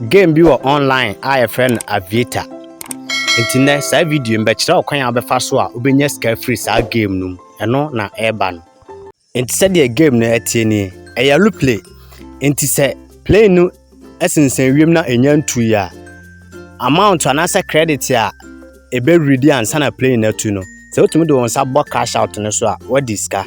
Game bi wɔ online a yɛfrɛ no Aviator. Nti nɛ saa video yi bɛkyerɛ ɔkwan a wobɛfa so a wobɛnya sika afiri saa game no mu. Ɛno na ɛreba no. Nti sɛdeɛ game no ɛteɛ nie, ɛyɛ aeroplane. Nti sɛ plane no sensɛn wiem na ɛnya ntui a, amount anaasɛ credit a ɛbɛwiri di ansa na plane no atu no, sɛ wotumi de wɔn nsa bɔ cash out no so a, wadi sika.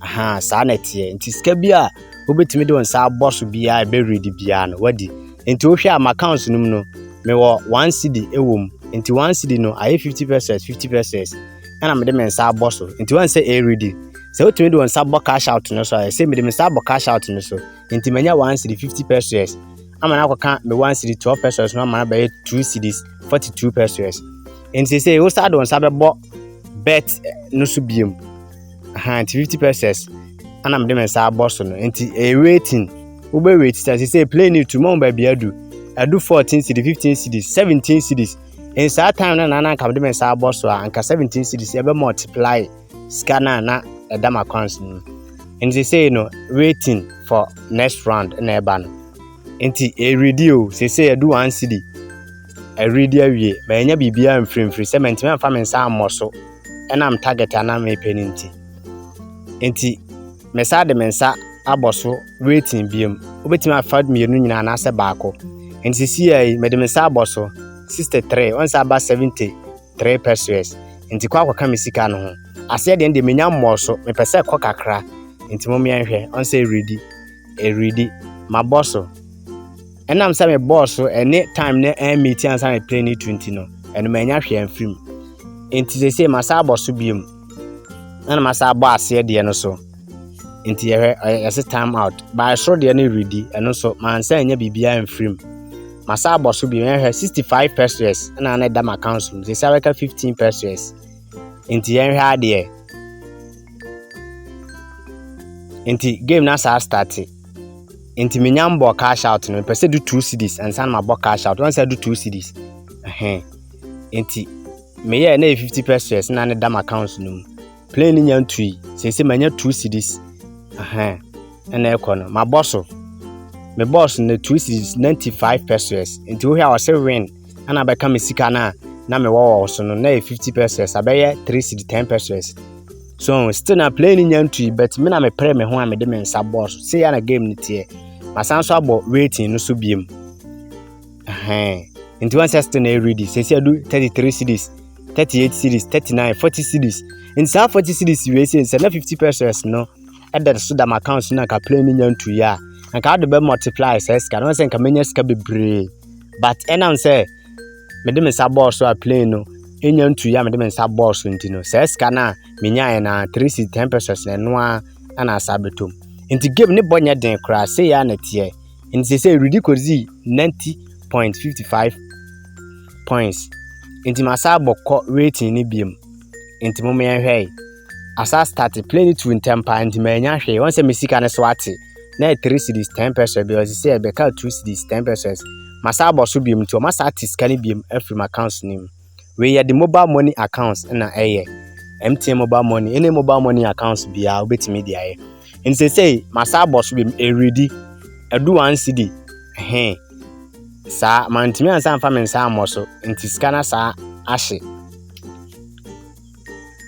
Ahaa saa na ɛteɛ nti sika bi a wobɛtumi de wo nsa abɔ so biara ɛbɛ ready biara no wadi nti wohwɛ a m'accounts no mu no mewɔ one cedi ɛwɔ mu nti one cedi no ayɛ fifty pesos fifty pesos ɛna mede me nsa abɔ so nti wɔn sɛ ɛredi sɛ wotumi de wɔn nsa bɔ cash out no so a ɛsɛ mede me nsa abɔ cash out no so nti manya one cedi fifty pesos ama no akɔka me one cedi twelve pesos no ama no abɛyɛ two cedis forty two pesos nti sɛ wosa de wɔn nsa bɛbɔ bet no so biem. Aha nti fifty pesos ana mede me nsa abɔ so no nti ɛyɛ waiting wobɛ wait sɛ sɛ sɛ plane no tu ma wo baabi adu adu fourteen cities fifteen cities seventeen cities nsaa time no na na nka mede me nsa abɔ so a nka seventeen cities ɛbɛ multiply sika no a na ɛda ma accounts no mu nti sɛ no waiting for next round na ɛba no nti ɛredi o sɛ sɛ ɛdu one city ɛredi awie ma ɛnya biribiara mfirimfiri sɛ mantumi amfa me nsa ammɔ so ɛnam target a na mepɛ no nti. Nti mesan de me nsa abɔ so waiting biom. Wobɛtumi afa mmienu nyinaa anaasɛ baako. Nti sisi yɛ yi mede me nsa abɔ so 63 ɔnsa aba 73 pesos. Nti kɔ akɔka me sika no ho. Aseɛ deɛ deɛ menya mmɔɔ so mepɛ sɛ kɔ kakra. Nti mo mmea nhwɛ ɔnsɛ ɛredi ɛredi mabɔ so. Ɛnam sɛ me bɔɔ so ɛne time ne ɛn meet ansa me plane tu nti no, ɛno manya hwee amfirim. Nti sese masa abɔ so biom. Na na masa abɔ aseɛ deɛ no so. Nti yɛhwɛ yɛse time out. Baa soro deɛ no redi, ɛno so mansa anya biribiara amfirim. Masa abɔ so biom, yɛhwɛ 65 pesos na na ɛda m'account so. Sese abɛka 15 pesos. Nti yɛnhwɛ adeɛ. Nti game na saa starte. Nti menya mbɔɔ cash out no, mepɛ sɛ do two cities ansa na mabɔ cash out. Wɔn sɛ do two cities. Ɛhɛn. Nti meyɛɛ na yɛ fifty pesos na ne dam account no mu. Plane no nya ntui. Sese manya two cities. Ɛhɛn. Ɛna ɛkɔ no. Mabɔ so. Me boss no two cities ninety five pesos. Nti wohwɛ a ɔsɛ win. Ɛna bɛka me sika no a na mewɔ wɔ so no na yɛ fifty pesos. Abɛyɛ three city ten pesos. so still na play no nya ntui but me na mepere me ho a mede me nsa bɔɔ so sei a na game no teɛ masan so abɔ waiting no so biem nti wɔn sɛ still na ɛredi sɛsi adu 33 cities 38 cities 39 40 cities nti saa 40 cities wei sɛ nsɛ na 50 pesos no ɛda so da m'account so na nka play no nya ntui a nka wode bɛ multiply saa sika no wɔn sɛ nka menya sika bebree but ɛnam sɛ mede me nsa bɔɔ so a plane no enya ntu ya mede me nsa bɔɔ so nti no saa sika no a menyaeɛ no a three seat ten pesos na ɛno a ɛna asa abɛtom nti game ne bɔ nyɛ den koraa sɛ yɛ a na teɛ nti sɛ sɛ redi kɔdzi ninety point fifty five points nti masa abɔ kɔ rating no biom nti mo meyɛnhwɛe asa start plane no tu ntɛm paa nti manya hwee wɔn sɛ me sika no so ate na yɛ three cities ten pesos bi ɔsi sɛ ɛbɛka two cities ten pesos masa abɔ so biom nti ɔma saa te sika no biom afiri m accounts no mu wei yɛde mobile money accounts na ɛyɛ mtn mobile money ɛne mobile money accounts biara wobɛtumi de ayɛ nti sɛ sɛ masa abɔ so biom ɛredi ɛdu one city he saa mantumi ansa mfa me nsa ammɔ so nti sika no saa ahye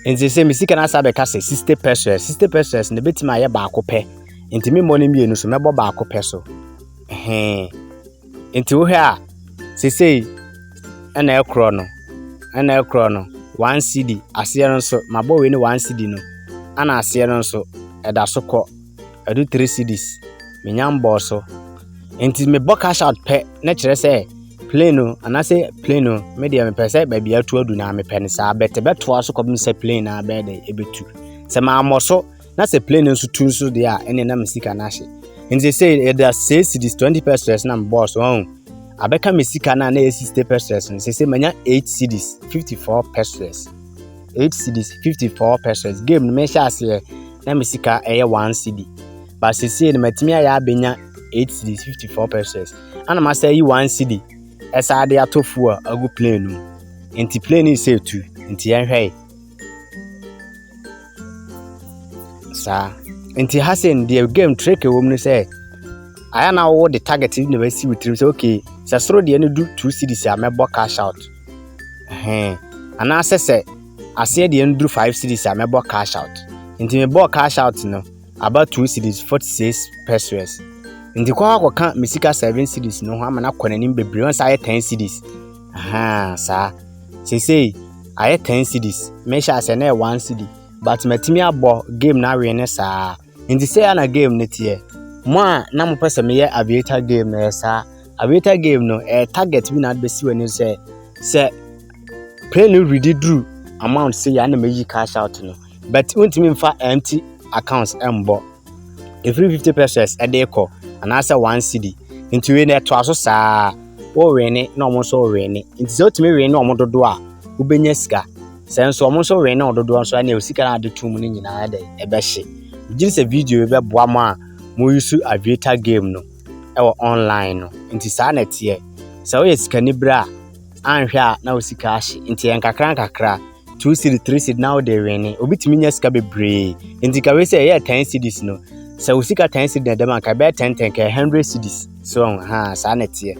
Nti sɛ me sika no asa bɛka sɛ 60 pesos, 60 pesos no bɛtumi ayɛ baako pɛ. Nti me mmɔ no mmienu so, mɛbɔ baako pɛ so. Hee. Nti wohwɛ a, sesei ɛna ɛkorɔ no, ɛna ɛkorɔ no, one cedi, aseɛ no nso, mabɔ wei ne one cedi no, ana aseɛ no nso, ɛda so kɔ. ɛdu three cedis menya mbɔɔ so nti mebɔ cash out pɛ na kyerɛ sɛ plane no anaasɛ plane no me deɛ mepɛ sɛ baabi atu adu na mepɛ no saa bɛtɛ bɛtoa so kɔpem sɛ plane no abɛyɛ dɛ ɛbɛtu sɛ mammɔ so na sɛ plane no nso tu nso deɛ a ɛne na me sika no ahye nti sɛ yɛda sɛ cedis 20 pesos na mebɔɔ so ɔhu abɛka me sika no a na ɛyɛ 60 pesos no sɛ sɛ manya 8 cedis 54 pesos eight cedis fifty four pesos game no mehyɛ aseɛ na me sika ɛyɛ one cedi ba sesie no matumi ayɛ abɛnya eight cedis fifty four pesos ana masa yi one cedi ɛsaa de ato fuel agu plane no mu nti plane no sɛ tu nti yɛnhwɛe saa nti ha sɛ deɛ game trick wɔ mu no sɛ ayɛ na wowɔ de target na wasi wo tirim sɛ okay sɛ soro deɛ no du two cedis a mɛbɔ cash out Ɛhɛn. Anaasɛ sɛ aseɛ deɛ no duru five cities a mɛbɔ cash out. Nti mebɔɔ cash out no about two cities forty six pesos. Nti kɔ hɔ akɔka me sika seven cities no ho ama no akɔ n'anim bebree ɔn sɛ ayɛ ten cities. Ahaa saa. Sesei ayɛ ten cities. Mehyɛ aseɛ na ɛyɛ one city but matumi abɔ game no awe ne saa. Nti sɛɛ na game no teɛ. Mo a na mopɛ sɛ meyɛ aviator game no ɛyɛ saa. Aviator game no ɛyɛ target bi na ade bɛsi w'ani sɛ sɛ plane no redi duru amount sɛ yɛ na mayi cash out no but wontumi mfa empty accounts ɛmbɔ ɛfiri 50 pesos ɛde kɔ anaasɛ 1 cd nti wei no ɛtoa so saa wɔwene na ɔmo nso wɔwene nti sɛ wotumi wene ɔmo dodoɔ a wobɛnya sika Sɛ nso wɔn nso wɛn no dodoɔ nso ɛna osika na ade tum no nyinaa dɛ ɛbɛhye. Gye sɛ video yi bɛboa mo a mo yusu aviator game no ɛwɔ online no. Nti saa na ɛteɛ. Sɛ woyɛ sikani bere a anhwɛ a na wo sika ahye. Nti yɛ nkakra nkakra. Two cedi, three cedi na wode wɛne. Obi tumi nya sika bebree. Nti ka wei sɛ ɛyɛ ten cedis no. Sɛ wo sika ten cedi na ɛdɛm anka ɛbɛyɛ ten ten ka hundred cedis. So ha saa na ɛteɛ.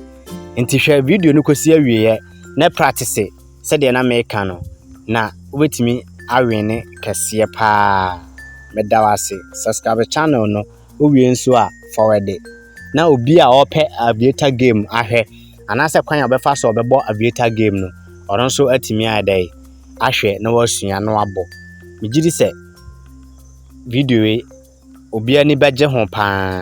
Nti hwɛ video no kɔsi awieɛ na practice. sɛdeɛ na meka no, na wobɛtumi awene kɛseɛ paa. Meda wo ase. Subscribe channel no, wowie nso a forward. Na obi a ɔpɛ aviator game ahwɛ, anaasɛ kwan a ɔbɛfa so ɔbɛbɔ aviator game no, ɔno nso atumi ayɛ dɛ ahwɛ na wasua na wabɔ. Megye di sɛ video yi obi ani bɛgye ho paa.